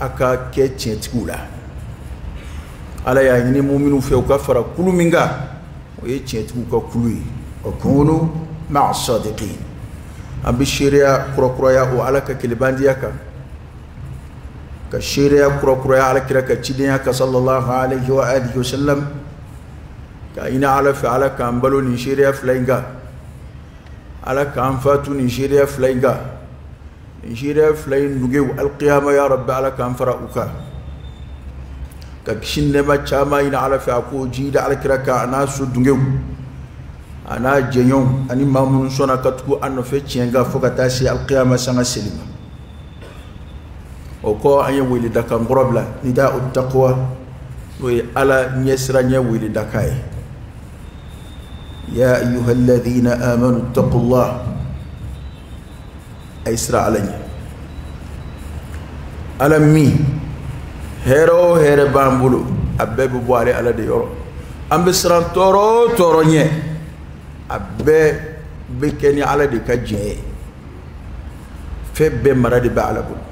a ka kɛ tiɲɛtigiw la ala y'a ɲini muminuw fɛ u ka fara kulu min kan o ye tiɲɛtigiw ka kulu ye wa kunu maa sadiqin an bɛ seereya kurakuraya o ala ka kelebandenya kan ka seereya kurakuraya alakira ka cidenya kan sallallahu alaihi wa alihi wa sallam k'a ɲini ala fɛ ala k'an balo nin seereya fila in kan ala k'an fatu nin seereya fila in kan nin seereya fila in nuge alikiyama ya rabbi ala k'an fara u kan ka kisi ni nɛɛma caman ɲini ala fɛ a k'o jiidi alakira kan a n'a so dungew a n'a jɛɲɔgɔnw ani maa minnu sɔnna ka tugu a nɔfɛ tiɲɛ kan fo ka taa se alikiyama sanga seli ma o kɔ an ye weledakan kɔrɔ bila nidau taqwa n'o ye ala ɲɛsiranɲɛ weledakan ye ya ayuha alladhina amanu taqullah a ye siran ala ɲɛ ala min hɛrɛ o hɛrɛ b'an bolo a bɛɛ bɛ bɔ ale ala de yɔrɔ an bɛ siran tɔɔrɔ o tɔɔrɔ ɲɛ a bɛɛ bɛ kɛ ni ala de ka jɛ ye fɛn bɛɛ mara de bɛ ala bolo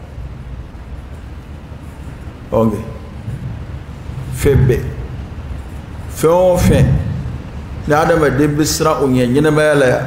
ɔn kɛ fɛn bɛɛ fɛn o fɛn ni adamaden bɛ siran o ɲɛ ɲɛnamaya la yan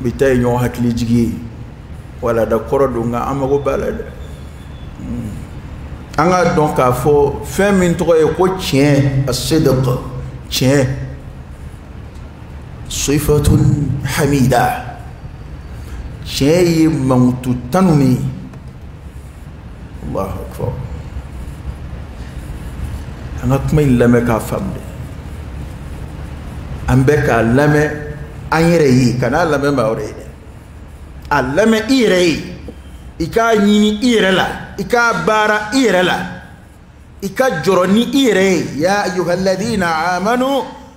bi ta ye ɲɔgɔn hakili jigi ye walanda kɔrɔ don nka an mago b'a la dɛ hmm. an k'a dɔn k'a fɔ fɛn min tɔgɔ ye ko tiɲɛ assidqu tiɲɛ sifatun hamida tiɲɛ ye mankutu tanunen ye allahu akbar an ka kuma in lamɛn k'a faamu dɛ an bɛɛ k'a lamɛn an yɛrɛ ye kan'a lamɛn maa wɛrɛ ye dɛ a lamɛn i yɛrɛ ye i k'a ɲini i yɛrɛ la i k'a baara i yɛrɛ la i ka jɔrɔ ni i yɛrɛ ye ya ayuha alladina amanu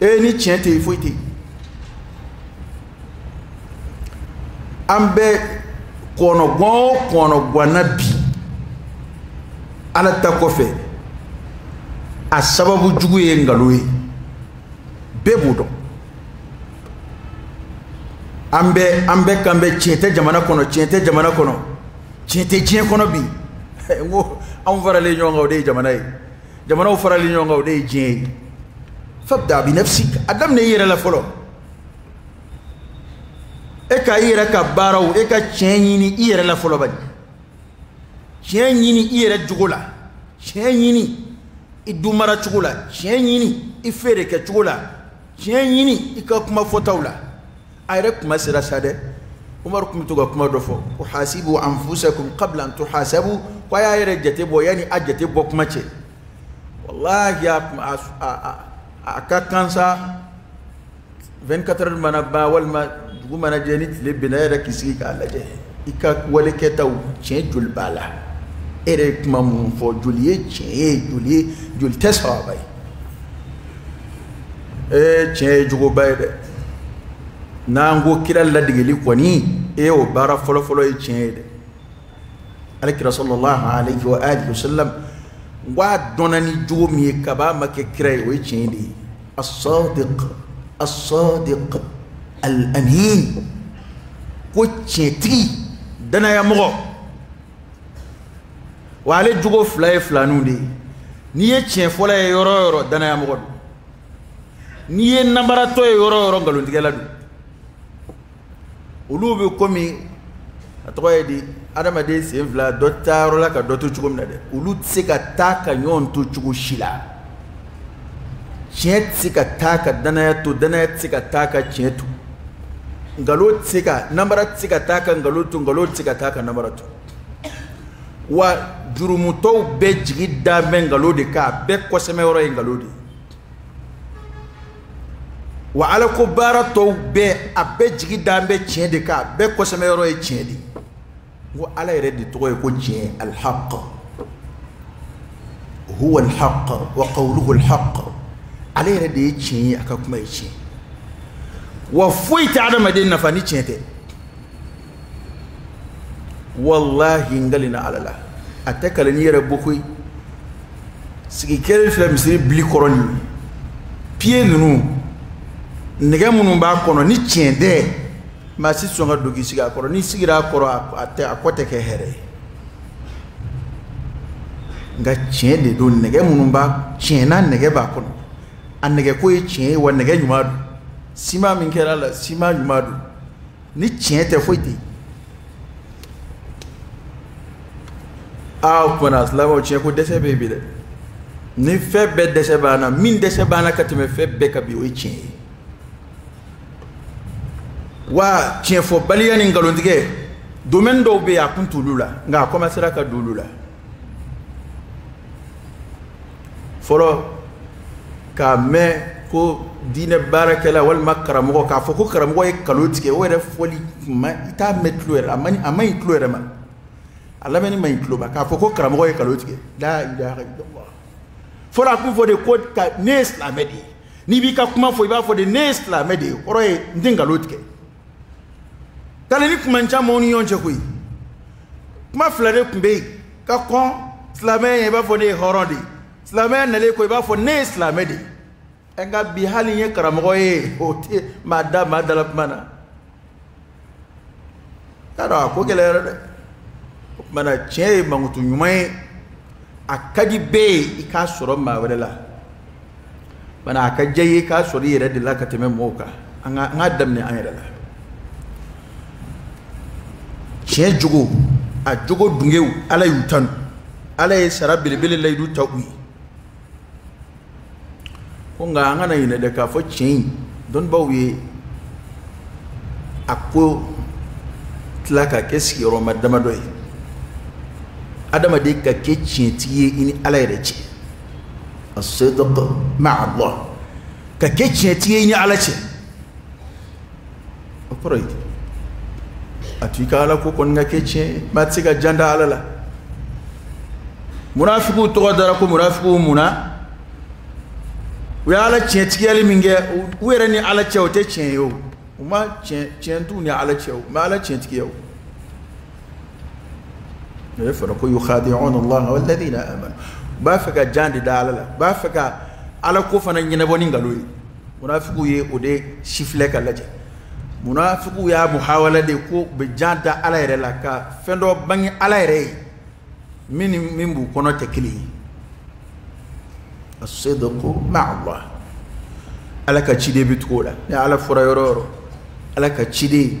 e ni tiɲɛ tɛ yen foyi tɛ yen an bɛ kɔnɔgwan o kɔnɔgwan na bi ala ta kɔfɛ a sababu jugu ye nkalon ye bɛɛ b'o dɔn an bɛɛ an bɛɛ kan bɛ tiɲɛ tɛ jamana kɔnɔ tiɲɛ tɛ jamana kɔnɔ tiɲɛ tɛ diɲɛ kɔnɔ bi n ko anw faralen ɲɔgɔn kan o de ye jamana ye jamanaw faralen ɲɔgɔn kan o de ye diɲɛ ye fabda bi nafsik a daminɛ i yɛrɛ la fɔlɔ e ka i yɛrɛ ka baaraw e ka tiɲɛ ɲini i yɛrɛ la fɔlɔ bani tiɲɛ ɲini i yɛrɛ jogo la tiɲɛ ɲini i dumara cogo la tiɲɛ ɲini i feere kɛ cogo la tiɲɛ ɲini i ka kuma fɔtaw la a yɛrɛ kuma sera sa dɛ umaru tun bɛ to ka kuma dɔ fɔ ko hasibu anfusakum qabla an tuhasabu ko a y'a yɛrɛ jate bɔ yanni a jate bɔ kuma ce walahi a kuma a a a ka kan sa 24 heures mana ban walima dugu mana jɛ ni tile binna yɛrɛ k'i sigi k'a lajɛ i ka wale kɛtaw tiɲɛ joli b'a la e yɛrɛ ye kuma minnu fɔ joli ye tiɲɛ ye joli ye joli tɛ sɛbɛ ye ee tiɲɛ ye jogoba ye dɛ n'an ko kira ladegeli kɔni e o baara fɔlɔfɔlɔ ye tiɲɛ ye dɛ ale kira sɔlɔlahu alayhi wa alihi wa sallam n ko a dɔnna ni jogo min ye kab'a ma kɛ kira ye o ye tiɲɛ de ye asadiq asadiq al amin ko tiɲɛtigi danayamɔgɔ wa ale jogo fila ye filaninw de ye n'i ye tiɲɛ fɔla ye yɔrɔ o yɔrɔ danayamɔgɔ don n'i ye nanbaratɔ ye yɔrɔ o yɔrɔ nkalontigɛla don olu bɛ komi a tɔgɔ ye di adamaden sen fila dɔ tɛ taa yɔrɔ la ka dɔ to cogo min na dɛ olu tɛ se ka taa ka ɲɔgɔn to cogo si la tiɲɛ tɛ se ka taa ka danaya to danaya tɛ se ka taa ka tiɲɛ to nkalon tɛ se ka nanbara tɛ se ka taa ka nkalon to nkalon tɛ se ka taa ka nanbara to wa jurumutɔw bɛɛ jigi da bɛ nkalon de kan a bɛɛ kɔsɛmɛ yɔrɔ ye nkalon de ye wa alako baara tɔw bɛɛ a bɛɛ jigi da bɛ tiɲɛ de kan a bɛɛ kɔsɛmɛ yɔrɔ ye tiɲɛ de ye n ko ala yɛrɛ de tɔgɔ ye ko tiɲɛ alihaq huwa alihaq wa qawluhu alihaq ala yɛrɛ de ye tiɲɛ ye a ka kuma ye tiɲɛ wa foyi tɛ adamaden nafa ni tiɲɛ tɛ walahi n kalenna ala la a tɛ kaleni yɛrɛ bɔ koyi sigi kɛlen filɛ misiri bili kɔrɔ nin piye ninnu nɛgɛ minnu b'a kɔnɔ ni tiɲɛ tɛ maa si sɔn ka don k'i sigi a kɔrɔ n'i sigira a kɔrɔ a tɛ a kɔ tɛ kɛ hɛrɛ ye nka tiɲɛ de don nɛgɛ minnu b'a tiɲɛna nɛgɛ b'a kɔnɔ a nɛgɛ ko ye tiɲɛ ye wa nɛgɛ ɲuman don siman min kɛra a la siman ɲuman don ni tiɲɛ tɛ foyi tɛ yen aa o kumana silamɛw tiɲɛ ko dɛsɛ bɛ yen bi dɛ ni fɛn bɛɛ dɛsɛ b'an na min dɛsɛ b'an na ka tɛmɛ fɛn bɛɛ kan bi o ye tiɲɛ ye wa tiɲɛfɔbaliya ni nkalontigɛ domaine dɔw bɛ yen a kun t'olu la nka a commencera ka don olu la fɔlɔ k'a mɛn ko diinɛ baarakɛla walima karamɔgɔ k'a fɔ ko karamɔgɔ ye nkalon tigɛ o yɛrɛ fɔli i t'a mɛn tulo yɛrɛ a man a man ɲi tulo yɛrɛ ma a lamɛnni man ɲi tulo ma k'a fɔ ko karamɔgɔ ye nkalon tigɛ la ilaha illallah fɔlɔ a tun fɔ de ko ne ye silamɛ de ye n'i b'i ka kuma fɔ i b'a fɔ de ne ye silamɛ de ye kɔrɔ ye n tɛ nkalon tigɛ kalenni tun man ca maaw ni ɲɔgɔn cɛ koyi kuma fila de tun bɛ yen ka kɔn silamɛya ɲɛ i b'a fɔ ne ye hɔrɔn de ye silamɛya nalen kɔ i b'a fɔ ne ye silamɛ de ye nka bi hali n ye karamɔgɔ ye o tɛ maa da maa dala kuma na y'a dɔn a ko gɛlɛyara dɛ o tuma na tiɲɛ ye mankutu ɲuman ye a ka di bɛɛ ye i k'a sɔrɔ maa wɛrɛ la bana a ka diya i ye k'a sɔrɔ i yɛrɛ de la ka tɛmɛ mɔgɔw kan an ka an k'a daminɛ an yɛrɛ la tiɲɛ jogo a jogo dungew ala y'u tanu ala ye sara belebele layidu ta u ye ko nka an kana ɲinɛ dɛ k'a fɔ tiɲɛ in dɔnnibaw ye a ko tila ka kɛ sigiyɔrɔma damadɔ ye adamaden ka kɛ tiɲɛtigi ye i ni ala yɛrɛ cɛ as-sidqu ma'allah ka kɛ tiɲɛtigi ye i ni ala cɛ o kɔrɔ ye a to i ka ala ko kɔni ka kɛ tiɲɛ maa tɛ se ka jan da ala la munafigiw tɔgɔ dara ko munafigiw mun na u ye ala tiɲɛtigiyali min kɛ u yɛrɛ ni ala cɛ o tɛ tiɲɛ ye o u ma tiɲɛ t'u ni ala cɛ u ma ala tiɲɛtigiya o o ye fɔra ko yukhadi'una allaha walladhina amanu u b'a fɛ ka jan de da ala la u b'a fɛ ka ala ko fana ɲɛnabɔ ni nkalon ye munafigiw ye o de sifilɛ ka lajɛ munafigiw y'a muhawala de ko u bɛ jan da ala yɛrɛ la ka fɛn dɔ bange ala yɛrɛ ye min ni min b'u kɔnɔ tɛ kelen ye as-sidqu ma'allah ala ka ciden bɛ tugu o la ni ala fɔra yɔrɔ o yɔrɔ ala ka ciden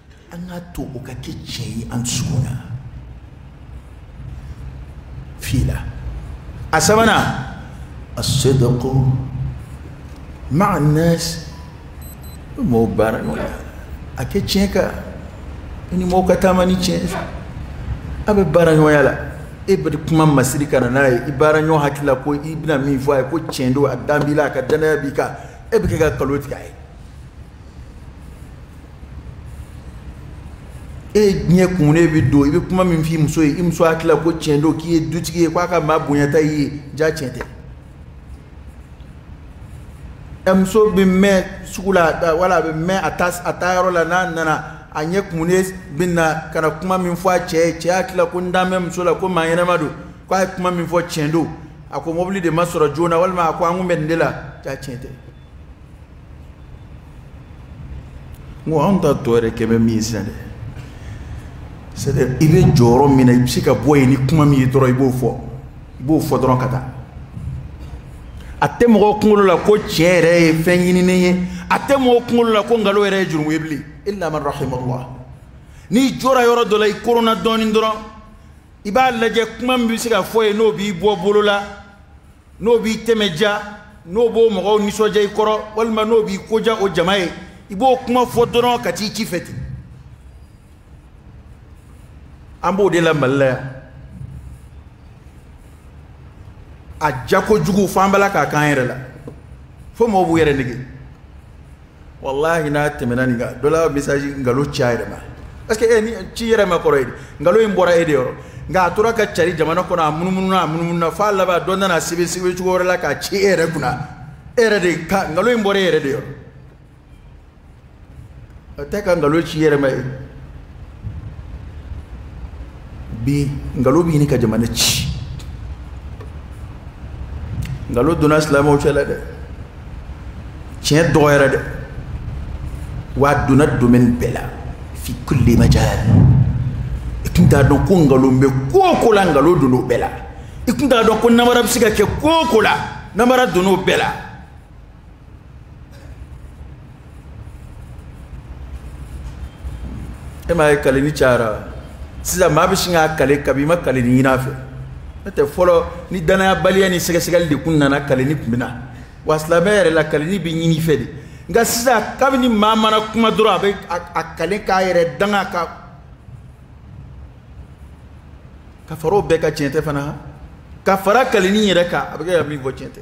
an k'a to o ka kɛ tiɲɛ ye an dusukun na fi la a sabanan as-sidqu ma'a an-nas mɔgɔw baara ɲɔgɔnya ka kɛ tiɲɛ kan i ni mɔgɔw ka taama ni tiɲɛ ye a bɛ baara ɲɔgɔnya la e bɛ kuma masiri ka na n'a ye i baara ɲɔgɔn hakili la ko i bɛna min fɔ a ye ko tiɲɛ don a dan b'i la a ka danaya b'i kan e bɛ kɛ ka nkalon tigɛ a ye e ɲɛ kumunen bɛ don i bɛ kuma min f'i muso ye i muso hakili la ko tiɲɛ don k'i ye dutigi ye k'a ka maa bonyata i ye ja tiɲɛ tɛ ɛ muso bɛ mɛn sugu la wala a bɛ mɛn a taa a taayɔrɔ la n'a nana a ɲɛ kumunen bɛ na ka na kuma min fɔ a cɛ ye cɛ hakili la ko n dan bɛ muso la ko maa ɲɛnama don k'a ye kuma min fɔ tiɲɛ don a ko mobili de ma sɔrɔ joona walima a ko an kun bɛ nin de la ja tiɲɛ tɛ n ko anw ta tɔ yɛrɛ kɛ bɛ min ye sisan dɛ c'est à dire i bɛ jɔ yɔrɔ min na i bɛ se ka bɔ yen ni kuma min ye dɔrɔn i b'o fɔ i b'o fɔ dɔrɔn ka taa a tɛ mɔgɔw kunkolo la ko tiɲɛ yɛrɛ ye fɛn ɲininen ye a tɛ mɔgɔw kunkolo la ko nkalon yɛrɛ ye jurumu ye bilen illa man rahimallah n'i jɔra yɔrɔ dɔ la i koronna dɔɔnin dɔrɔn i b'a lajɛ kuma min bɛ se ka fɔ yen n'o b'i bɔ bolo la n'o b'i tɛmɛ diya n'o b'o mɔgɔw nisɔndiya i kɔrɔ walima n'o b'i ko diya o jama ye i b'o kuma fɔ dɔrɔn ka t'i ci fɛ ten an b'o de la mali la yan a diya kojugu fo an b'a la k'a k'an yɛrɛ la fo mɔgɔw b'u yɛrɛ nɛgɛn walahi n'a tɛmɛna nin kan dɔ la message nkalon ci a yɛrɛ ma parce que e ni ci yɛrɛ ma kɔrɔ ye di nkalon in bɔra e de yɔrɔ nka a tora ka cari jamana kɔnɔ a munumununa a munumununa f'a laban dɔ nan'a sɛbɛn sɛbɛncogo wɛrɛ la k'a ci e yɛrɛ kunna e yɛrɛ de ka nkalon in bɔra e yɛrɛ de yɔrɔ a tɛ ka nkalon ci i yɛrɛ ma ye bi nkalon bɛ ɲini ka jamana ci nkalon donna silamɛw cɛ la dɛ tiɲɛ dɔgɔyara dɛ wa a donna domaine bɛɛ la fi kulli majal i tun t'a dɔn ko nkalon bɛ ko o ko la nkalon donna o bɛɛ la i tun t'a dɔn ko namara bɛ se ka kɛ ko o ko la namara donna o bɛɛ la e m'a ye kaleni cayara sisan maa bɛ sin k'a kale kabi i ma kaleni ɲin'a fɛ n'o tɛ fɔlɔ ni danayabaliya ni sɛgɛsɛgɛli de kun nana kaleni tun bɛ na wa silamɛ yɛrɛ la kaleni bɛ ɲin'i fɛ de nka sisan kabini maa mana kuma dɔrɔn a bɛ a kale k'a yɛrɛ danga ka ka fara o bɛɛ kan tiɲɛ tɛ fana ka fara kaleni yɛrɛ kan a bɛ kɛ ka min fɔ tiɲɛ tɛ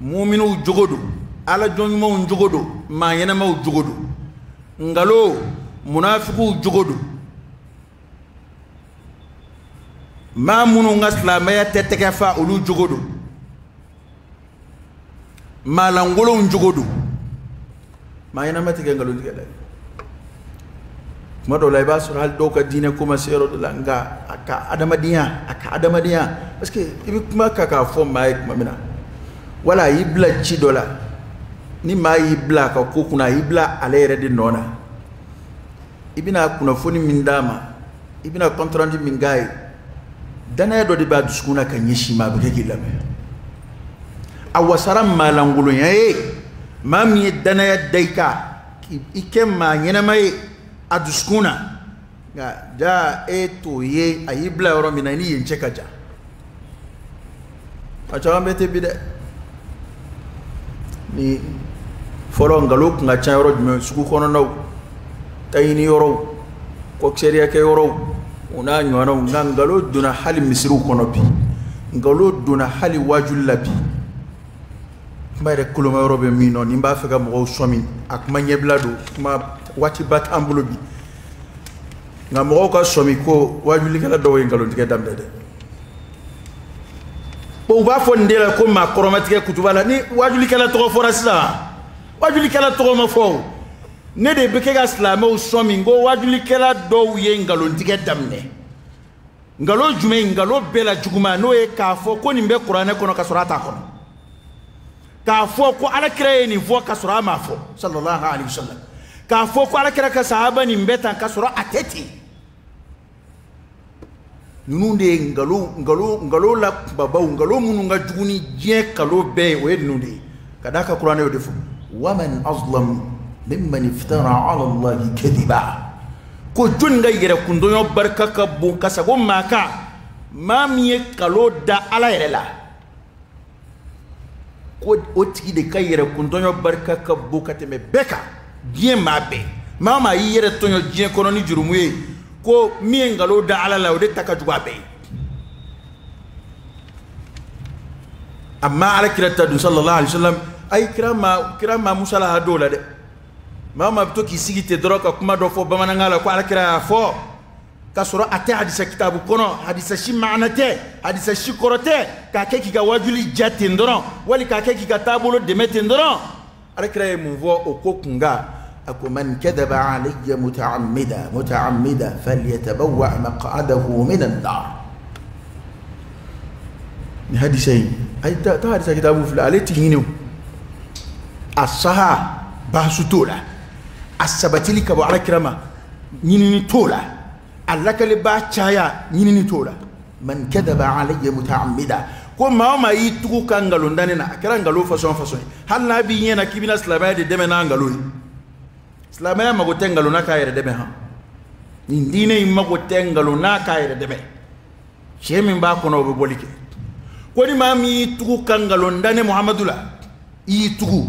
muminuw jogo don ala jɔn ɲumanw jogo don maa ɲɛnamaw jogo don nkalon munafikiw jogo don maa minnu ka silamɛya tɛ tɛgɛ fa olu jogo don maalankolonw jogo don maa ɲɛnama tɛ kɛ nkalontigɛla ye tuma dɔw la i b'a sɔrɔ hali dɔ ka diinɛ ko ma se yɔrɔ dɔ la nka a ka adamadenya a ka adamadenya parce que i bɛ kuma ka k'a fɔ maa ye tuma min na wala a y'i bila ci dɔ la ni maa y'i bila a ka ko kunna a y'i bila ale yɛrɛ de nɔ na i bɛna kunnafoni min d'a ma i bɛna compte rendu min k'a ye danaya dɔ de b'a dusukun na ka ɲɛsin i ma a bɛ kɛ k'i lamɛn a wasara maalankolonya ye maa min ye danaya da i kan i kɛ maa ɲɛnama ye a dusukun na nka jaa e t'o ye a y'i bila yɔrɔ min na i ni yen cɛ ka jan a caman bɛ ten bi dɛ ni fɔlɔ nkalon tun ka ca yɔrɔ jumɛn sugu kɔnɔnaw taɲini yɔrɔw kɔkisɛriyakɛ yɔrɔw o n'a ɲɔgɔnnaw nka nkalon donna hali misiriw kɔnɔ bi nkalon donna hali waajuli la bi kuma yɛrɛ koloma yɔrɔ bɛ min nɔ ni n b'a fɛ ka mɔgɔw sɔmi a kuma ɲɛbila don kuma waatiba t'an bolo bi nka mɔgɔw ka sɔmi ko waajulikɛla dɔw ye nkalontigɛ daminɛ dɛ bon u b'a fɔ nin de la ko maa kɔrɔmatigɛ kutuba la ni waajulikɛla tɔgɔ fɔra sisan waajulikɛla tɔgɔ ma fɔ o ne de bɛ kɛ ka silamɛw sɔmi ko waajulikɛla dɔw ye nkalontigɛ daminɛ nkalon jumɛn nkalon bɛɛ la juguman n'o ye k'a fɔ ko nin bɛ kuranɛ kɔnɔ ka sɔrɔ a t'a kɔnɔ k'a fɔ ko alakira ye nin fɔ ka sɔrɔ a m'a fɔ sallallahu alaihi wa sallam k'a fɔ ko alakira ka sahaba nin bɛ tan ka sɔrɔ a tɛ ten ninnu de ye nkalon nkalon nkalon la kunbabaw nkalon minnu ka jugu ni diɲɛ nkalon bɛɛ ye o ye ninnu de ye ka d'a kan kuranɛ y'o de fɔ waman azlam mimman iftara ala allahi kadiba ko jɔni ka yɛrɛkuntɔɲɔ barika ka bon ka sago maa kan maa min ye nkalon da ala yɛrɛ la ko o tigi de ka yɛrɛkuntɔɲɔ barika ka bon ka tɛmɛ bɛɛ kan diɲɛ maa bɛɛ maa maa y'i yɛrɛ tɔɲɔ diɲɛ kɔnɔ ni jurumu ye ko min ye nkalon da ala la o de ta ka jugu a bɛɛ ye amma ala kira ta dun sallallahu alaihi wasallam ayi kira ma musalaha d'o la dɛ maa maa bɛ to k'i sigi ten dɔrɔn ka kuma dɔ fɔ bamanankan la ko ala kira y'a fɔ k'a sɔrɔ a tɛ hadisa kitabu kɔnɔ hadisa si maana tɛ hadisa si kɔrɔ tɛ k'a kɛ k'i ka waajuli diya ten dɔrɔn wali k'a kɛ k'i ka taabolo dɛmɛ ten dɔrɔn alakira ye mun fɔ o ko kunkan a ko man kadaba alayya mutaamida falyatabawa maqadahu min annar nin hadisa in a ye taa hadisa kitabu filɛ ale ti ɲini o a saha baasi t'o la a sabatili ka bɔ alakira ma ɲinini t'o la a lakalibaa caya ɲinini t'o la man kadaba alayya mutaamida ko maa o maa y'i tugu ka nkalon da ne na a kɛra nkalon fasɔn o fasɔn ye hali n'a b'i ɲɛ na k'i bɛna silamɛya de dɛmɛ n'a nkalon ye silamɛya mago tɛ nkalon na k'a yɛrɛ dɛmɛ han nin diinɛ in mago tɛ nkalon na k'a yɛrɛ dɛmɛ tiɲɛ min b'a kɔnɔ o bɛ bɔli kɛ ko ni maa min y'i tugu ka nkalon da ne muhamadu la i y'i tugu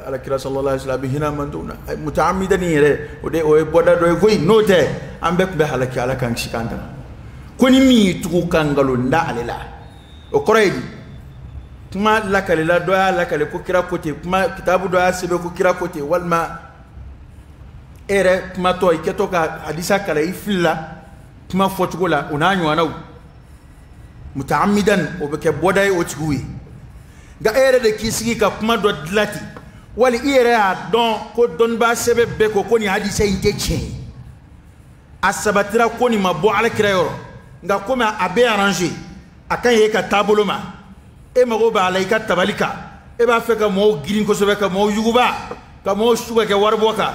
alakira sallallahu alaihi wasallam a bɛ hinɛ an man na mutaamidani yɛrɛ o de o ye bɔda dɔ ye koyi n'o tɛ an bɛɛ tun bɛ halaki ala k'an kisi k'an tanga ko ni min y'i tugu ka nkalon da ale la o kɔrɔ ye di kuma lakalila dɔ y'a lakali ko kira ko ten kuma kitabu dɔ y'a sɛbɛn ko kira ko ten walima e yɛrɛ kumatɔ i kɛtɔ ka hadisa kalan i filila kuma fɔcogo la o n'a ɲɔgɔnnaw mutaamidan o bɛ kɛ bɔda ye o tigiw ye nka e yɛrɛ de k'i sigi ka kuma dɔ dilan ten wali i yɛrɛ y'a dɔn ko dɔnnibaa sɛbɛ bɛɛ ko ko nin hadisa in tɛ tiɲɛ ye a sabatira ko nin ma bɔ alakira yɔrɔ nka komi a bɛ arranger a ka ɲi e ka taabolo ma e mago b'a la i ka tabali kan e b'a fɛ ka mɔgɔw girin kosɛbɛ ka mɔgɔw yuguba ka mɔgɔw su ka kɛ waribɔ kan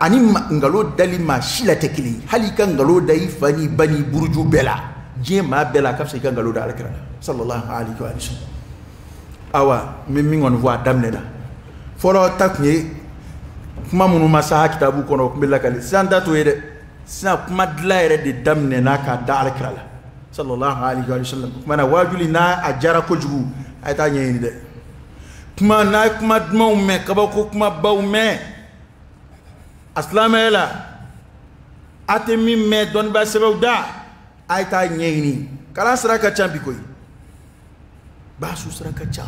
ani nkalon dali maa si la tɛ kelen ye hali i ka nkalon da i fa n'i ba n'i buruju bɛɛ la diɲɛ maa bɛɛ la a ka fisa i ka nkalon da alakira la sallallahu alaihi wa sallam awa n bɛ min kɔni fɔ a daminɛ la fɔlɔ ta tun ye kuma minnu ma saha kitabu kɔnɔ o tun bɛ lakali sisan ta t'o ye dɛ sisan kuma dilan yɛrɛ de daminɛna k'a da alakira la sallallahu alaihi wa sallam o tuma na waajuli n'a a diyara kojugu a ye taa ɲɛɲini dɛ kuma n'a ye kuma dumanw mɛn kabako kumabaw mɛn a silamɛya la a tɛ min mɛn dɔnnibaa sɛbɛw da a ye taa ɲɛɲini kalan sira ka ca bi koyi basu sira ka ca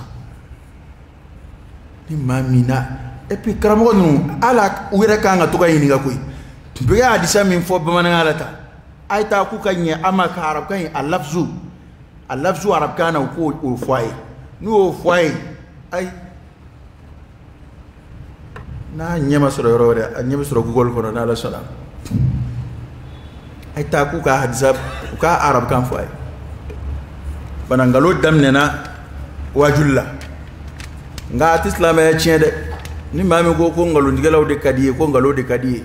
ni maa min na et puis karamɔgɔ ninnu ala u yɛrɛ kan ka to ka ɲininka koyi u bɛ ka hadisa min fɔ bamanankan la tan a ye taa k'u ka ɲɛ an ma ka arabukan in a lafizu a lafizu arabukan na u k'o fɔ a ye n'u y'o fɔ a ye ayi n'a ɲɛ ma sɔrɔ yɔrɔ wɛrɛ a ɲɛ bɛ sɔrɔ google kɔnɔ n'ala sɔnna a ye taa k'u ka hadisa u ka arabukan fɔ a ye fana nkalon daminɛna wajuli la nka a tɛ silamɛya tiɲɛ dɛ ni maa min ko ko nkalontigɛlaw de ka di ye ko nkalon de ka di ye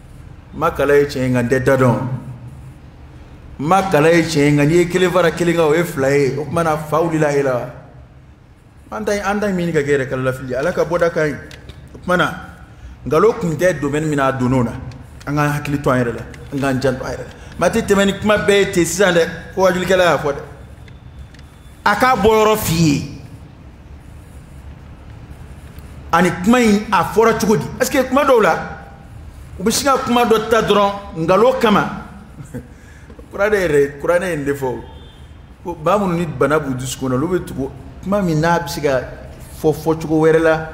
ma kalan ye tiɲɛ nka n tɛ da dɔn ma kalan ye tiɲɛ nka n'i ye kelen fara kelen kan o ye fila ye o tuma na fa wulila e la an t'a an t'a ɲini ka kɛ yɛrɛ k'ala lafili ala ka bɔda ka ɲi o tuma na nkalon kun tɛ domaine min na a donn'o la an k'an hakili to an yɛrɛ la an k'an janto an yɛrɛ la maa tɛ tɛmɛ ni kuma bɛɛ ye ten sisan dɛ ko wajulikɛla y'a fɔ dɛ a k'a bɔ yɔrɔ f'i ye ani kuma in a fɔra cogo di parce que kuma dɔw la u bɛ sin ka kuma dɔ ta dɔrɔn nkalon kama kuranɛ yɛrɛ kuranɛ in de fɔ ko maa minnu ni bana b'u dusukun na olu bɛ tugu kuma min n'a bɛ se ka fɔ fɔcogo wɛrɛ la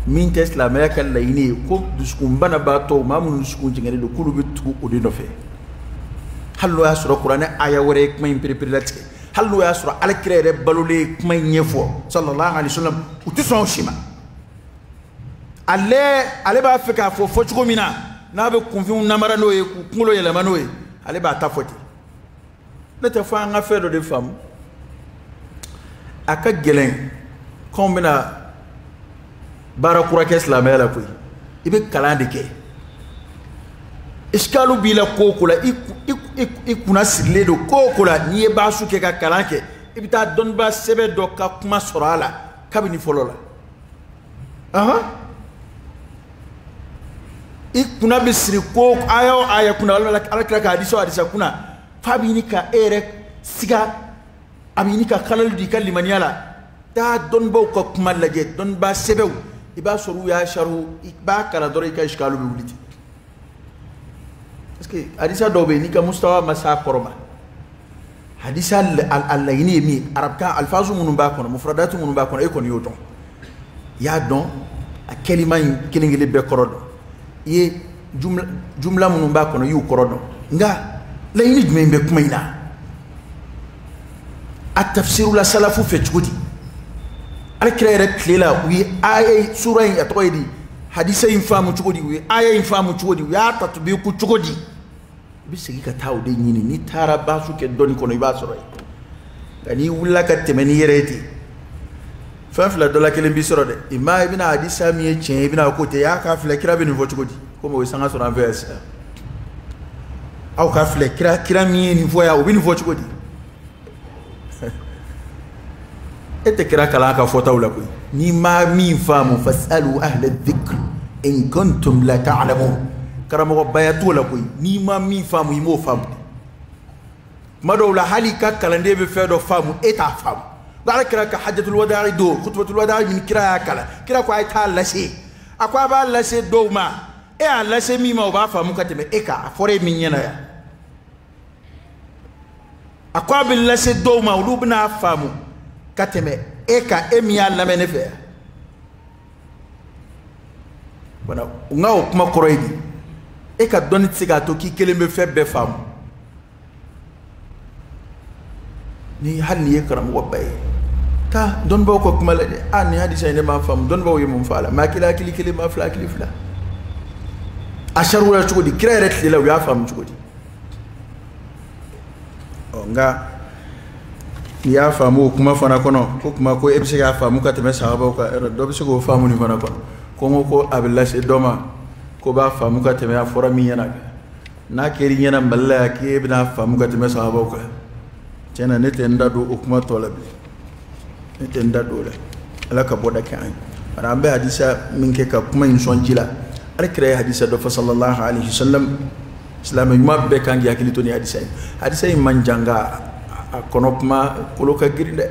min tɛ silamɛya ka laɲini ye ko dusukun banabaatɔ maa minnu dusukun jɛngɛlen don k'olu bɛ tugu o de nɔfɛ hali n'o y'a sɔrɔ kuranɛ aya wɛrɛ ye kuma in pereperelatigɛ hali n'o y'a sɔrɔ alakira yɛrɛ balolen ye kuma in ɲɛfɔ sallallahu alaihi wasallam u tɛ sɔn o si ma ale ale b'a fɛ k'a fɔ fɔcogo min na n'a bɛ kunfinw namara n'o ye k'u kunkolo yɛlɛma n'o ye ale b'a ta fɔ ten ne tɛ fɔ an ka fɛn dɔ de faamu a ka gɛlɛn k'anw bɛna baara kura kɛ silamɛya la koyi i bɛ kalan de kɛ isikalu b'i la ko o ko la i kunna sirilen don ko o ko la n'i ye baasu kɛ ka kalan kɛ i bɛ taa dɔnnibaa sɛbɛ dɔ ka kuma sɔrɔ a la kabini fɔlɔ la ahan i kunna bɛ siri ko aya o aya kunna walima alakira ka hadisa o hadisa kunna f'a bɛ ɲini ka e yɛrɛ siga a bɛ ɲini ka kalalu di i ka limaniya la taa dɔnnibaw ka kuma lajɛ dɔnnibaa sɛbɛw i b'a sɔrɔ u y'a saru i b'a kalan dɔrɔn i ka isikalu bɛ wuli ten parce que hadisa dɔ bɛ yen n'i ka mustawa ma s'a kɔrɔ ma hadisa a laɲini ye min ye arabukan alifazu minnu b'a kɔnɔ mufuradatu minnu b'a kɔnɔ e kɔni y'o dɔn i y'a dɔn a kɛlima in kelen kelen bɛɛ kɔrɔ dɔn i ye jumla minnu b'a kɔnɔ i y'u kɔrɔ dɔn nka laɲini jumɛn bɛ kuma in na a tafsirula salafu fɛ cogo di alakira yɛrɛ tile la u ye aya sura in a tɔgɔ ye di hadisa in faamu cogo di u ye aya in faamu cogo di u y'a tatubiku cogo di i bɛ segin ka taa o de ɲini n'i taara baasu kɛ dɔnni kɔnɔ i b'a sɔrɔ yen nka n'i wulila ka tɛmɛ n'i yɛrɛ ye ten fɛn fila dɔ la kelen b'i sɔrɔ dɛ imma i bɛna hadisa min ye tiɲɛ ye i bɛna ko tɛ y'a k'a filɛ kira bɛ nin fɔ cogo di komi o ye sanga sɔrɔ an fɛ yan sisan aw k'a filɛ kira kira min ye nin fɔ yan o bɛ nin fɔ cogo di e tɛ kira kalan ka fɔtaw la koyi n'i ma min faamu fas'alu ahla dhikr in kuntum la ta'lamun karamɔgɔbaya t'o la koyi n'i ma min faamu i m'o faamu tuma dɔw la hali i ka kalanden bɛ fɛn dɔ faamu e t'a faamu alakira ka hajjatul wada'i don kutubatul wada'i min kira y'a kalan kira ko a ye taa lase a ko a b'a lase dɔ ma e y'a lase min ma o b'a faamu ka tɛmɛ e kan a fɔra e min ɲɛna yan a ko a bɛ lase dɔw ma olu bɛna a faamu ka tɛmɛ e kan e min y'a lamɛn ne fɛ yan wala nka o kuma kɔrɔ ye di e ka dɔnni tɛ se k'a to k'i kelen bɛ fɛn bɛɛ faamu ni hali n'i ye karamɔgɔba ye taa dɔnnibaaw ka kuma lajɛ a nin hadisa in ne m'a faamu dɔnnibaaw ye mun fɔ a la maa kelen hakili kelen maa fila hakili fila a sariya cogo di kira yɛrɛ tile la u y'a faamu cogo di ɔ nka n'i y'a faamu o kuma fana kɔnɔ ko kuma ko e bɛ se k'a faamu ka tɛmɛ sahabaw kan ɛ dɔ bɛ se k'o faamu nin fana kɔnɔ ko n ko ko a bɛ lase dɔ ma k'o b'a faamu ka tɛmɛ a fɔra min ɲɛna n'a kɛra i ɲɛna mali la yan k'e bɛn'a faamu ka tɛmɛ sahabaw kan tiɲɛ na ne tɛ n da don o kuma tɔ la bilen ne tɛ n da don o la ala ka bɔda kɛ an ye bari an bɛ hadisa min kɛ ka kuma in sɔn ji la ala kira ye hadisa dɔ fɔ sallallahu alaihi wasallam silamɛ ɲuman bɛɛ kan k'i hakili to ni hadisa ye hadisa in man jan nka a kɔnɔ kuma kolo ka girin dɛ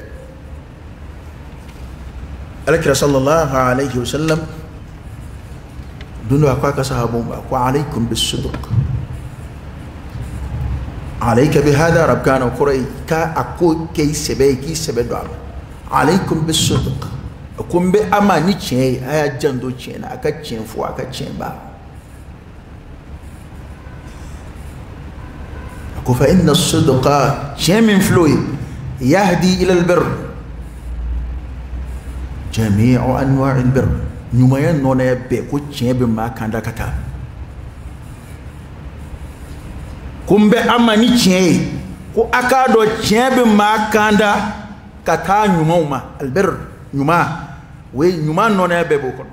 ala kira sallallahu alaihi wasallam don dɔ a ko a ka sahabaw ma ko alaykum bisidq alayka bi hada arabukan na o kɔrɔ ye ka a ko kɛ i sɛbɛ ye k'i sɛbɛ don a ma alaykum bisidq a ko n bɛ a ma ni tiɲɛ ye a y'a janto tiɲɛ na a ka tiɲɛ fɔ a ka tiɲɛ ba a ko fa inna sidqa tiɲɛ min filɛ o ye yahdi ila albir jami'u anwa'i albir ɲumanya nɔnaya bɛɛ ko tiɲɛ bɛ maa kanda ka taa ko n bɛ a ma ni tiɲɛ ye ko a k'a dɔn tiɲɛ bɛ maa kanda ka taa ɲumanw ma albir ɲuman o ye ɲuman nɔnaya bɛɛ b'o kɔnɔ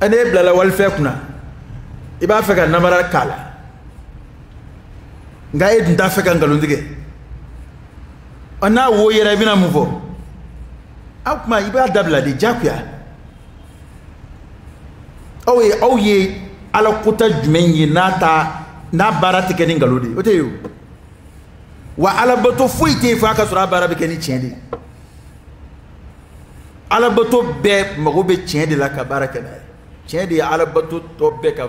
ɛ n'e bilala walifɛn kunna i b'a fɛ ka nanbara k'a la nka e dun t'a fɛ ka nkalon tigɛ a n'a wo yera i bɛna mun fɔ a kuma i b'a dabila de diyagoya aw ye aw ye ala kota jumɛn ye n'a ta n'a baara tɛ kɛ ni nkalon de ye o tɛ yen o wa alabato foyi tɛ yen f'a ka sɔrɔ a baara bɛ kɛ ni tiɲɛ de ye alabato bɛɛ mago bɛ tiɲɛ de la ka baara kɛ n'a ye tiɲɛ de ye alabato tɔ bɛɛ ka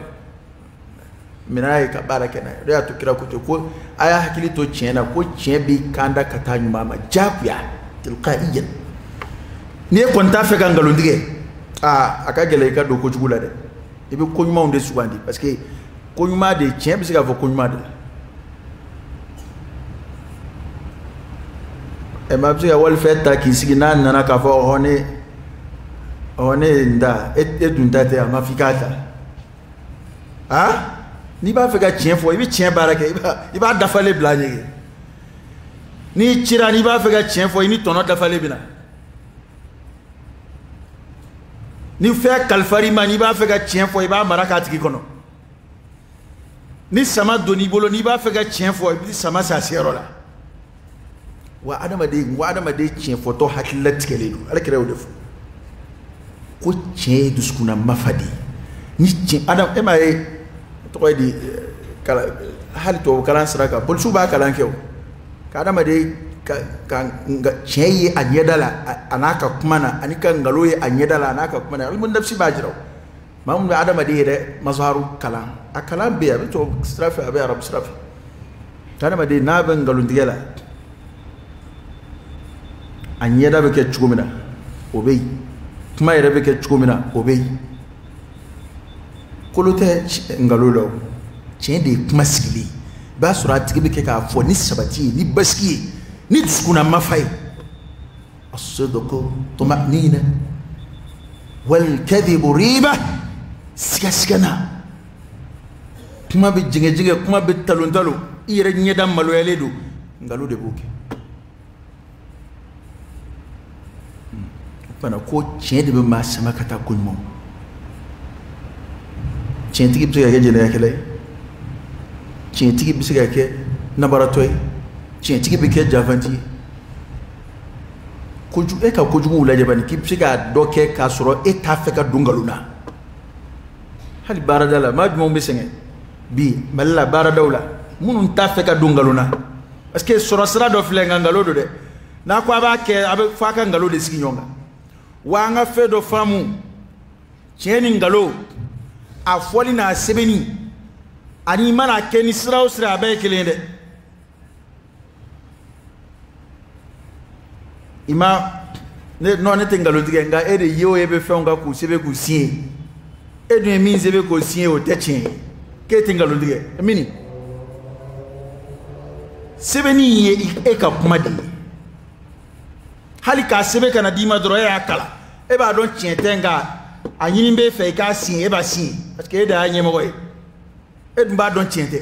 minɛn ye ka baara kɛ n'a ye o de y'a to kira ko ten ko a y'a hakili to tiɲɛ na ko tiɲɛ b'i kanda ka taa ɲuman ma diyagoya tilqa'iyan ni e kɔni t'a fɛ ka nkalon tigɛ aa a ka gɛlɛn i ka don kojugu la dɛ i bɛ ko ɲumanw de sugandi parce que ko ɲuman de tiɲɛ bɛ se k'a fɔ ko ɲuman de ɛ maa bɛ se ka walifɛn ta k'i sigi n'a nana k'a fɔ ɔhɔ ne ɔhɔ ne ye n ta e e dun ta tɛ a ma f'i k'a ta a n'i b'a fɛ ka tiɲɛ fɔ i bɛ tiɲɛ baara kɛ i b'a i b'a dafalen bila a ɲɛ kɛ n'i cira n'i b'a fɛ ka tiɲɛ fɔ i ni tɔnɔ dafalen bɛ na. ni fɛn kalifar'i ma n'i b'a fɛ ka tiɲɛ fɔ i b'a mara k'a tigi kɔnɔ ni sama donn'i bolo n'i b'a fɛ ka tiɲɛ fɔ i bɛ sama s'a seyɔrɔ la wa adamaden n ko adamaden tiɲɛ fɔtɔ hakilila tigɛlen don ala kira y'o de fɔ ko tiɲɛ ye dusukunna mafa de ye ni tiɲɛ adam e m'a ye tɔgɔ ye di eh, kalan hali tubabu kalan sira kan polisiw b'a kalan kɛ o ka adamaden ka ka nga tiɲɛ ye a ɲɛda la a n'a ka kuma na ani ka nkalon ye a ɲɛda la a n'a ka kuma na ilmu nafsi b'a jira o maa min bɛ adamaden yɛrɛ mazharu kalan a kalan bɛ yen a bɛ tubabu sira fɛ a bɛ arabu sira fɛ ka adamaden n'a bɛ nkalontigɛ la a ɲɛda bɛ kɛ cogo min na o bɛ yen kuma yɛrɛ bɛ kɛ cogo min na o bɛ yen kolo tɛ nkalon la o tiɲɛ de ye kuma sigilen ye i b'a sɔrɔ a tigi bɛ kɛ k'a fɔ ni sabati ye ni basigi ye ni dusukunna mafa ye as-sidqu tuma'nina wal kadhibu riba sigasigana kuma bɛ jɛngɛjɛngɛ kuma bɛ talon talon i yɛrɛ ɲɛda maloyalen don nkalon de b'o kɛ fana ko tiɲɛ de bɛ maa sama ka taa ko ɲuman tiɲɛtigi bɛ se ka kɛ jɛnɛyakɛla ye tiɲɛtigi bɛ se ka kɛ nanbaratɔ ye tiɲɛtigi bɛ kɛ janfanci ye kojugu e ka kojuguw lajɛ bani k'i bɛ se k'a dɔ kɛ k'a sɔrɔ e t'a fɛ ka don nkalon na hali baarada la maa jumɛnw bɛ sɛgɛn bi mali la baaradaw la minnu t'a fɛ ka don nkalon na parce que sɔrɔ sira dɔ filɛ nka nkalon don dɛ n'a ko a b'a kɛ a bɛ f'a ka nkalon de sigi ɲɔgɔn kan wa an ka fɛn dɔ faamu tiɲɛ ni nkalon a fɔli n'a sɛbɛnni ani i man'a kɛ ni sira o sira a bɛɛ ye kelen ye dɛ i ma ne non ne tɛ nkalon tigɛ nka e de ye o e bɛ fɛnw kan k'u sɛbɛn k'u siɲɛ e dun ye min sɛbɛn k'o siɲɛ o tɛ tiɲɛ ye k'e tɛ nkalon tigɛ mini sɛbɛnni in ye e ka kuma de ye hali k'a sɛbɛn ka n'a d'i ma dɔrɔn e y'a kalan e b'a dɔn tiɲɛ tɛ nka a ɲini b'e fɛ i k'a siɲɛ e b'a siɲɛ parce que e de y'a ɲɛmɔgɔ ye e dun b'a dɔn tiɲɛ tɛ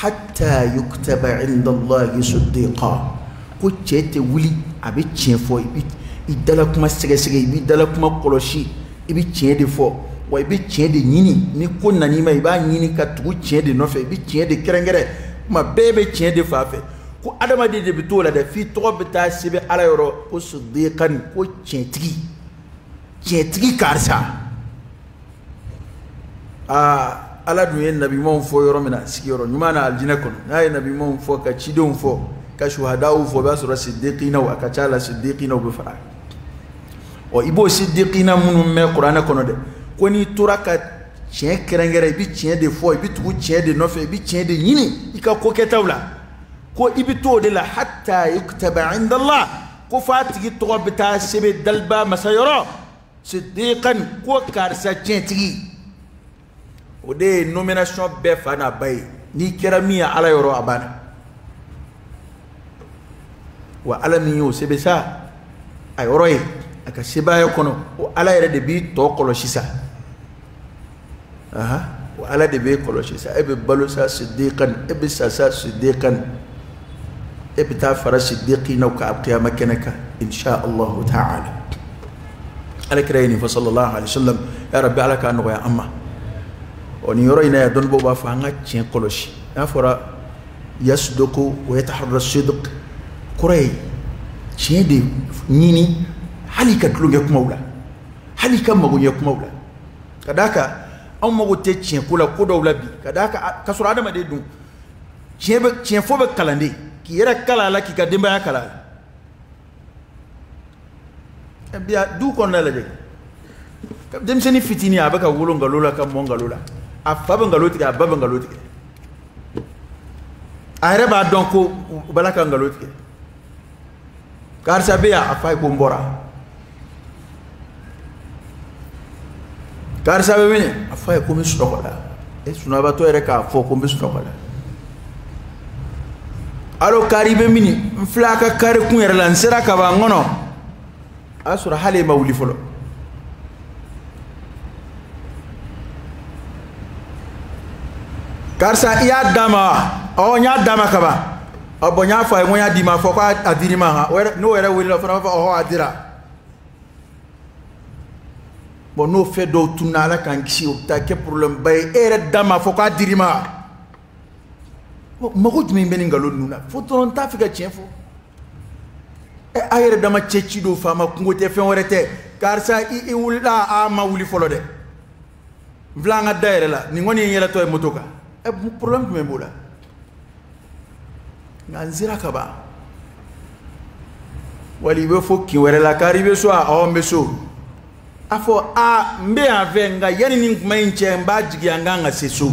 hatta yuktaba inda Allahi siddiqa ko cɛ tɛ wuli a bɛ tiɲɛ fɔ i bɛ i dala kuma sɛgɛsɛgɛ i b'i dala kuma kɔlɔsi i bɛ tiɲɛ de fɔ wa i bɛ tiɲɛ de ɲini ni ko nan'i ma i b'a ɲini ka tugu tiɲɛ de nɔfɛ i bɛ tiɲɛ de kɛrɛnkɛrɛn kuma bɛɛ bɛ tiɲɛ de fan fɛ ko adamaden de bɛ t'o la dɛ f'i tɔgɔ bɛ taa sɛbɛn ala yɔrɔ ko siddiqan ko tiɲɛtigi tiɲɛtigi karisa aa ala dun ye nabimaw fɔ yɔrɔ min na sigiyɔrɔ ɲuman na alijinɛ kɔnɔ n'a ye nabimaw fɔ ka cidenw fɔ ka suhadaw fɔ o b'a sɔrɔ sidikinaw a ka ca la sidikinaw bɛ fara ɔ i b'o sidikina minnu mɛn kuranɛ kɔnɔ dɛ ko n'i tora ka tiɲɛ kɛrɛnkɛrɛn i bɛ tiɲɛ de fɔ i bɛ tugu tiɲɛ de nɔfɛ i bɛ tiɲɛ de ɲini i ka ko kɛtaw la ko i bɛ to o de la hatta yuktaba inda Allah ko f'a tigi tɔgɔ bɛ taa sɛbɛn daliba masa yɔrɔ sidikan ko karisa tiɲɛtigi o de ye nomination bɛɛ fa n'a ba ye n'i kɛra min ye ala yɔrɔ a banna wa ala min y'o sɛbɛn sa a yɔrɔ yen a ka sebaaya kɔnɔ o ala yɛrɛ de b'i tɔ kɔlɔsi sa wa ala de b'e kɔlɔsi sa e bɛ balo sa sidikan e bɛ sa sa sidikan e bɛ taa fara sidikina kan kiyama kɛnɛ kan insha allahu ta'ala ala kira ye nin fɔ sallallahu alaihi wasallam ya rabbi ala k'a nɔgɔya an ma ɔ nin yɔrɔ in na yan dɔnnibaaw b'a fɔ an ka tiɲɛ kɔlɔsi n'a fɔra yasduqu wa yataharra sidq kɔrɔ ye tiɲɛ de ɲini hal'i ka tulonkɛ kumaw la hal'i ka magoɲɛ kumaw la ka d'a kan anw mago tɛ tiɲɛko la ko dɔw la bi ka d'a kan ka sɔrɔ adamaden dun tiɲɛ fɔ bɛ kalan de k'i yɛrɛ kalan a la k'i ka denbaya kalan a la bi a du kɔnɔna lajɛ denmisɛnnin fitinin a bɛ ka wolo nkalon la ka mɔ nkalon la a fa bɛ nkalon tigɛ a ba bɛ nkalon tigɛ a yɛrɛ b'a dɔn ko u b'a la ka nkalon tigɛ karisa bɛ yan a f'a ye ko n bɔra karisa bɛ min a f'a ye ko n bɛ sunɔgɔ la e sunabatɔ yɛrɛ k'a fɔ ko n bɛ sunɔgɔ la alo kari i bɛ min n filɛ a ka kare kun yɛrɛ la n sera ka ban n kɔnɔ a y'a sɔrɔ hali e ma wuli fɔlɔ karisa i y'a d'a ma ɔ n y'a d'a ma kaban a bɔn n y'a fɔ a ye ko n y'a d'i ma a fɔ k'a dir'i ma han n'o yɛrɛ welela o fana b'a fɔ ɔhɔ a dira bɔn n'o fɛn dɔw tununna ala k'an kisi o bɛ taa kɛ porobilɛmuba ye e yɛrɛ da m'a fɔ k'a dir'i ma mago jumɛn bɛ nin nkalon ninnu na fo dɔrɔn n t'a fɛ ka tiɲɛ fɔ ɛ a yɛrɛ dama cɛ ci don faama kunko tɛ fɛn wɛrɛ tɛ karisa i wulila a ma wuli fɔlɔ dɛ n filɛ an ka da yɛrɛ la nin kɔni ye n yɛlɛtɔ ye moto kan ɛ problème jumɛn b'o la nka n sera ka ban wali i bɛ fo kin wɛrɛ la kari i bɛ so a ɔ n bɛ so a fɔ a n bɛ yan fɛ nka yanni nin kuma in cɛ n b'a jigiya n kan ka se so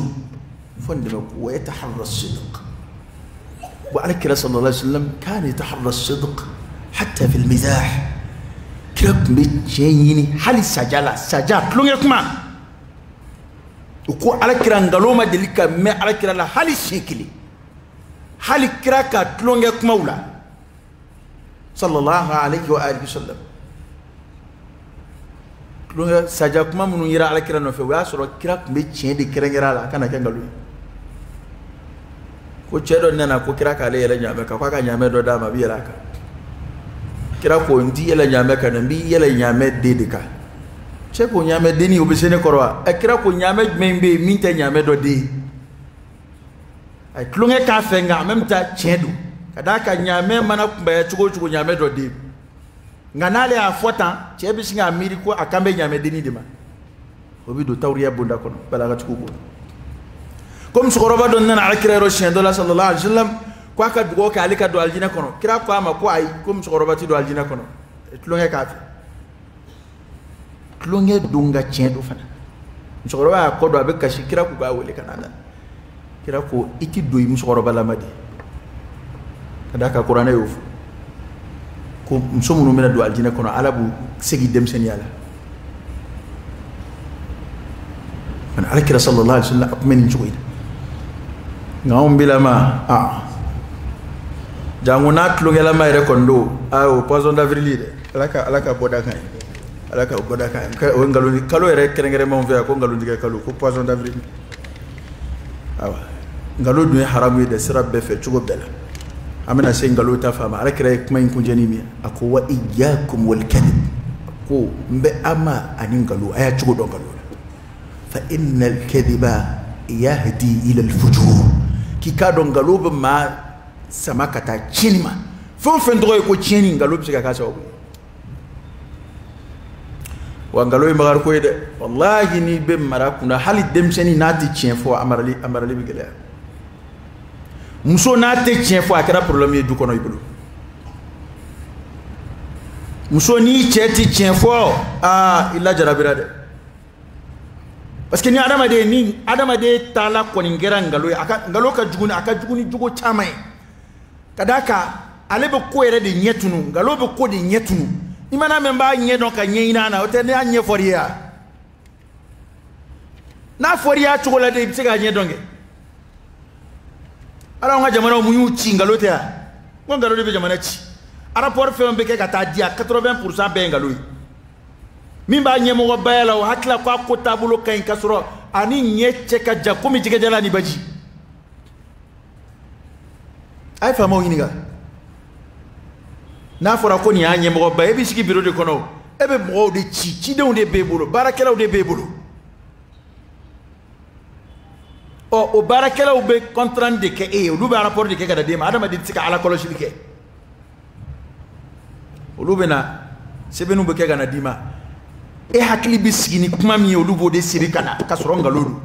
fo nin de bɛ ko wa yataharra sidq wa ala kira sallallahu alaihi wa sallam kana yataharra sidq hatta fil mizah kira tun bɛ tiɲɛ ɲini hali saja la saja tulonkɛ kuma o ko ala kira nkalon ma deli ka mɛn ala kira la hali siɲɛ kelen hali kira ka tulonkɛ kumaw la sallallahu alaihi wa alihi wasallam tulonkɛ saja kuma minnu yera ala kira nɔfɛ o y'a sɔrɔ kira tun bɛ tiɲɛ de kɛrɛnkɛrɛn a la a kana kɛ nkalon ye ko cɛ dɔ nana ko kira k'ale yɛlɛ ɲaamɛ kan k'a ka ɲaamɛ dɔ d'a ma a bɛ yɛlɛ a kan kira ko n t'i yɛlɛ ɲaamɛ kan dɛ n b'i yɛlɛ ɲaamɛ den de kan cɛ ko ɲaamɛ denni o bɛ se ne kɔrɔ wa ɛ kira ko ɲaamɛ jumɛn bɛ yen min tɛ ɲaamɛ dɔ den ye a ye tulonkɛ k'a fɛ nka en même temps tiɲɛ don ka d'a kan ɲaamɛ mana kunbaya cogo o cogo ɲaamɛ dɔ den nka n'ale y'a fɔ tan cɛ bɛ sin k'a miiri ko a kan bɛ ɲaamɛdenni de ma o bɛ don tawuriya bonda kɔnɔ balagatigiw bolo ko musokɔrɔba dɔ nana alakira yɔrɔ siɲɛ dɔ la sallallahu alaihi wa sallam ko a ka dugawu kɛ ale ka don alijinɛ kɔnɔ kira ko a ma ko ayi ko musokɔrɔba tɛ don alijinɛ kɔnɔ tulonkɛ k'a fɛ tulonkɛ don nka tiɲɛ don fana musokɔrɔba y'a kɔ don a bɛ kasi kira ko k'a wele ka na kira ko i ti don i musokɔrɔbalama de ka d'a kan kuranɛ y'o fɔ ko muso minnu bɛna don alijinɛ kɔnɔ ala b'u segi denmisɛnninya la ani ala kira sallallahu alaihi wasallam a tun bɛ nin cogo in na nka anw bilama a janko n'a tulonkɛlama yɛrɛ kɔni don a o poisson d'avril ye dɛ ala ka ala ka bɔda kan ye ala ka bɔda kan ye o ye nkalon kalo yɛrɛ kɛrɛnkɛrɛn anw fɛ yan ko nkalontigɛ kalo ko poisson d'avril awa nkalon dun ye haramu ye dɛ sira bɛɛ fɛ cogo bɛɛ la an bɛna se nkalon ta fan ma ala kira ye kuma in kuncɛ ni min ye a ko wa iyyakum wal kadhib ko n bɛ an ma ani nkalon a y'a cogo dɔn nkalon la fa innal kadhiba yahdi ila al fujur k'i k'a dɔn nkalon bɛ maa sama ka taa tiɲɛni ma fɛn o fɛn tɔgɔ ye ko tiɲɛni nkalon bɛ se ka k'a sababu ye wa nkalon ye makari ko ye dɛ walahi n'i bɛ mara kunna hali denmisɛnnin n'a tɛ tiɲɛ fɔ a marali bɛ gɛlɛya muso n'a tɛ tiɲɛ fɔ a kɛra problème ye du kɔnɔ i bolo muso n'i cɛ tɛ tiɲɛ fɔ aa i lajarabira dɛ parce que ni adamaden ni adamaden taala kɔni kɛra ngalo ye a ka ngalo ka jugu ni a ka jugu ni jogo caman ye ka d'a kan ale bɛ ko yɛrɛ de ɲɛ tunu ngalo bɛ ko de ɲɛ tunu i man'a mɛn b'a ɲɛ dɔn k'a ɲɛɲini a na o tɛ ne y'a ɲɛfɔ i ye wa n'a fɔra i y'a cogo la de i bɛ se k'a ɲɛ dɔn kɛ ala an ka jamanaw mun y'u ci ngalo tɛ wa n ko ngalo de bɛ jamana ci a rapport fɛn o fɛn bɛ kɛ ka taa di a 80 pourcent bɛɛ ye ngalo ye. min b'a ɲɛmɔgɔbaya la o hakilila ko a ko taabolo ka ɲi ka sɔrɔ a ni ɲɛ cɛ ka jan komi jɛgɛjalan ni baji a ye faamaw ɲininka n'a fɔra ko nin y'a ɲɛmɔgɔba ye e b'i sigi biro de kɔnɔ e bɛ mɔgɔw de ci cidenw de b'e bolo baarakɛlaw de b'e bolo ɔ o baarakɛlaw bɛ compte rendu de kɛ e ye olu b'a rapport de kɛ ka taa d'e ma adamaden tɛ se ka ala kɔlɔsili kɛ olu bɛna sɛbɛnniw bɛɛ kɛ ka na d'i ma e hakili bɛ sigi ni kuma min ye olu b'o de siri ka na ka sɔrɔ nkalon don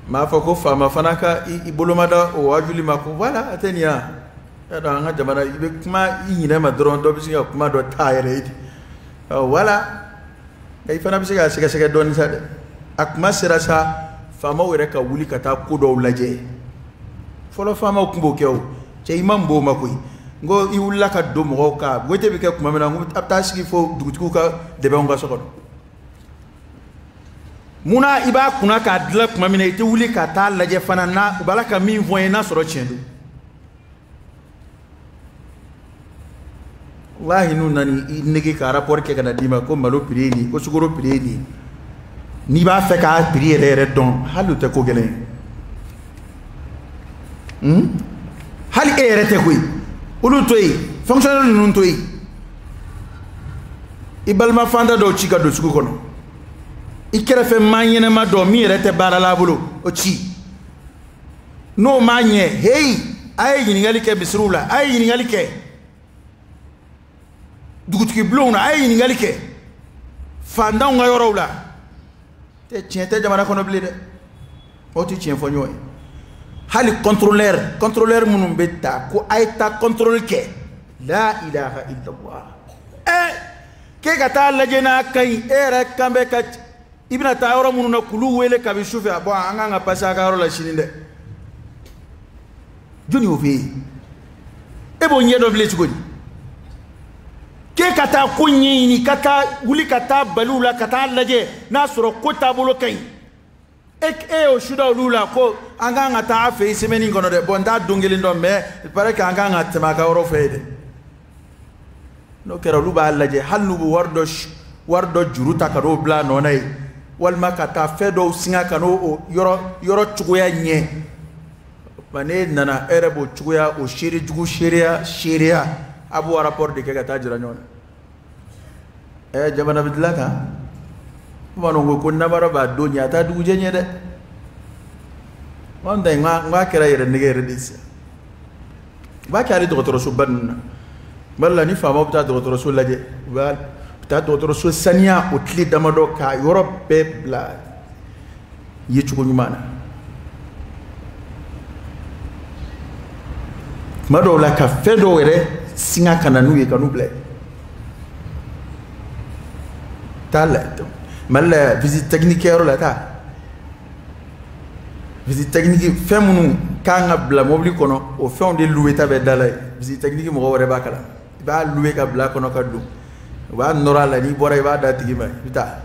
m'a fɔ ko faama fana ka i boloma da o waajuli ma ko wala a tɛ ɲɛ a y'a dɔn an ka jamana i bɛ kuma i ɲinɛma dɔrɔn dɔ bɛ se ka kuma dɔ ta i yɛrɛ ye ten wala nka i fana bɛ se k'a sɛgɛsɛgɛ dɔɔnin sa dɛ a kuma sera sa faamaw yɛrɛ ka wuli ka taa ko dɔw lajɛ fɔlɔ faamaw tun b'o kɛ o cɛ i man bon o ma koyi n ko i wulila ka don mɔgɔw kan wote bɛ kɛ tuma min na n ko a bɛ taa sigi fo dugutigiw ka dɛbɛnw kan so kɔnɔ munna i b'a kunna k'a dilan tuma min na i tɛ wuli ka taa lajɛ fana na u b'a la ka min fɔ n ye n'a sɔrɔ tiɲɛ don walahi n'u nana i nɛgɛn ka rapport kɛ ka na d'i ma ko malo prix ye nin ko sukoro prix ye nin n'i b'a fɛ k'a prix yɛrɛ yɛrɛ dɔn hali o tɛ ko gɛlɛn ye hali e yɛrɛ tɛ koyi olu to yen fonctionnaire ninnu to yen i balima fantan dɔw ci ka don sugu kɔnɔ i kɛrɛfɛ maa ɲɛnama dɔ min yɛrɛ tɛ baara la a bolo o ci n'o ma ɲɛ heyi a ye ɲininkali kɛ misiriw la a ye ɲininkali kɛ dugutigi bulonw na a ye ɲininkali kɛ fantanw ka yɔrɔw la tɛ tiɲɛ tɛ jamana kɔnɔ bilen dɛ aw tɛ tiɲɛ fɔ ɲɔgɔn ye hali contrôleur contrôleur minnu bɛ taa ko a ye taa contrôle kɛ la ilaha illallah ɛ k'e ka taa lajɛ n'a ka ɲi e yɛrɛ kan bɛ ka i bɛna taa yɔrɔ minnu na k'olu wele kabi su fɛ bon an kan ka passer a ka yɔrɔ la sini dɛ jɔni y'o f'e ye e b'o ɲɛ dɔn bilen cogo di k'e ka taa ko ɲɛɲini ka taa wuli ka taa bali u la ka taa lajɛ n'a sɔrɔ ko taabolo ka ɲi e e y'o su da olu la ko an kan ka taa a fɛ yen semaine in kɔnɔ dɛ bon n t'a don kelen dɔn mais il paraît que an kan ka tɛmɛ a ka yɔrɔ fɛ yen dɛ n'o kɛra olu b'a lajɛ hali n'u bɛ wari dɔ wari dɔ juru ta ka n'o bila a nɔ na yen walima ka taa fɛn dɔw singa ka n'o yɔrɔ yɔrɔ cogoya ɲɛ nka n'e nana e yɛrɛ b'o cogoya o seere jugu seereya seereya a b'o rapport de kɛ ka taa jira ɲɔgɔn na ɛ jamana bɛ dilan kan bamananw ko ko namara b'a don ɲɛ a t'a dugujɛ ɲɛ dɛ anw ta in n k'a kɛra yɛrɛ nɛgɛn yɛrɛ de ye sisan u b'a kɛ hali dɔgɔtɔrɔsoba ninnu na mali la ni faamaw bɛ taa dɔgɔtɔrɔso lajɛ u bɛ taa dɔgɔtɔrɔso saniya o tile damadɔ k'a yɔrɔ bɛɛ bila ye cogo ɲuman na tuma dɔw la ka fɛn dɔw yɛrɛ singa ka na n'u ye ka n'u bila taa la mali la visite technique kɛyɔrɔ la taa visite technique fɛn minnu kan ka bila mobili kɔnɔ o fɛnw de louer ta bɛ da la ye visite technique mɔgɔ yɛrɛ b'a kala ma i b'a louer ka bila kɔnɔ ka don u b'a nɔrɔ a la n'i bɔra i b'a d'a tigi ma i bɛ taa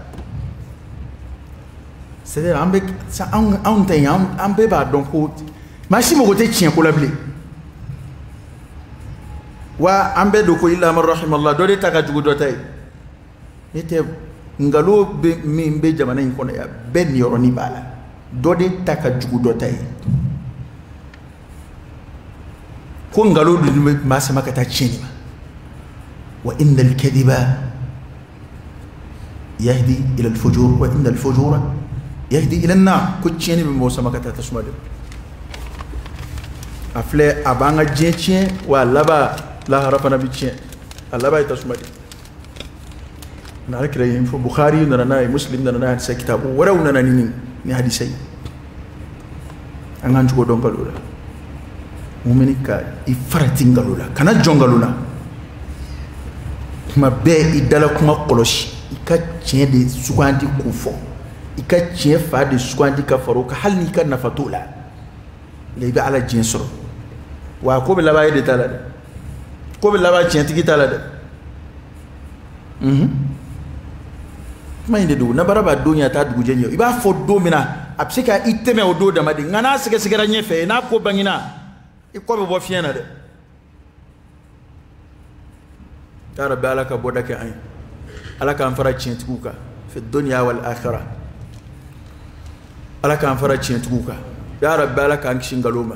c'est à dire an bɛ anw anw tɛ yen an bɛɛ b'a dɔn ko maa si mago tɛ tiɲɛ ko la bilen wa an bɛɛ don ko illa man rahimallah dɔ de ta ka jugu dɔ ta ye. n'o tɛ nkalonba min bɛ jamana in kɔnɔ yan bɛɛ niyɔrɔnin b'a la dɔ de ta ka jugu dɔ ta ye ko nkalon dun bɛ maa sama ka taa tiɲɛni ma wa inna al-kadhiba yahdi ila al-fujur wa inna al-fujura yahdi ila an-nar ko tiɲɛni bɛ mɔgɔ sama ka taa tasuma de a filɛ a b'an ka diɲɛ tiɲɛ wa a laban lahara fana bɛ tiɲɛ a laban ye tasuma de ye na alakira y'in fɔ bukhari nana n'a ye muslim nana n'a ye hadisa kitabu wɛrɛw nana ni nin ni hadisa ye an k'an cogo dɔn nkalon la mumini ka i farati nkalon la kana jɔn nkalon la tuma bɛɛ i dala kuma kɔlɔsi i ka tiɲɛ de sugandi k'o fɔ i ka tiɲɛ fan de sugandi ka fara o kan hali n'i ka nafa t'o la i bɛ ala diɲɛ sɔrɔ wa a ko bɛ laban e de ta la dɛ ko bɛ laban tiɲɛtigi ta la dɛ mhm. kuma in de don nanbara b'a don ɲɛ a t'a dugujɛ ɲɛ i b'a fɔ don min na a bɛ se ka i tɛmɛ o don dama de nka n'a sɛgɛsɛgɛra ɲɛfɛ n'a ko bangina i kɔ bɛ bɔ fiɲɛ na dɛ yaa rabbi ala ka bɔda kɛ an ye ala k'an fara tiɲɛtigiw kan fi dunya wal akhira ala k'an fara tiɲɛtigiw kan yaa rabbi ala k'an kisi nkalon ma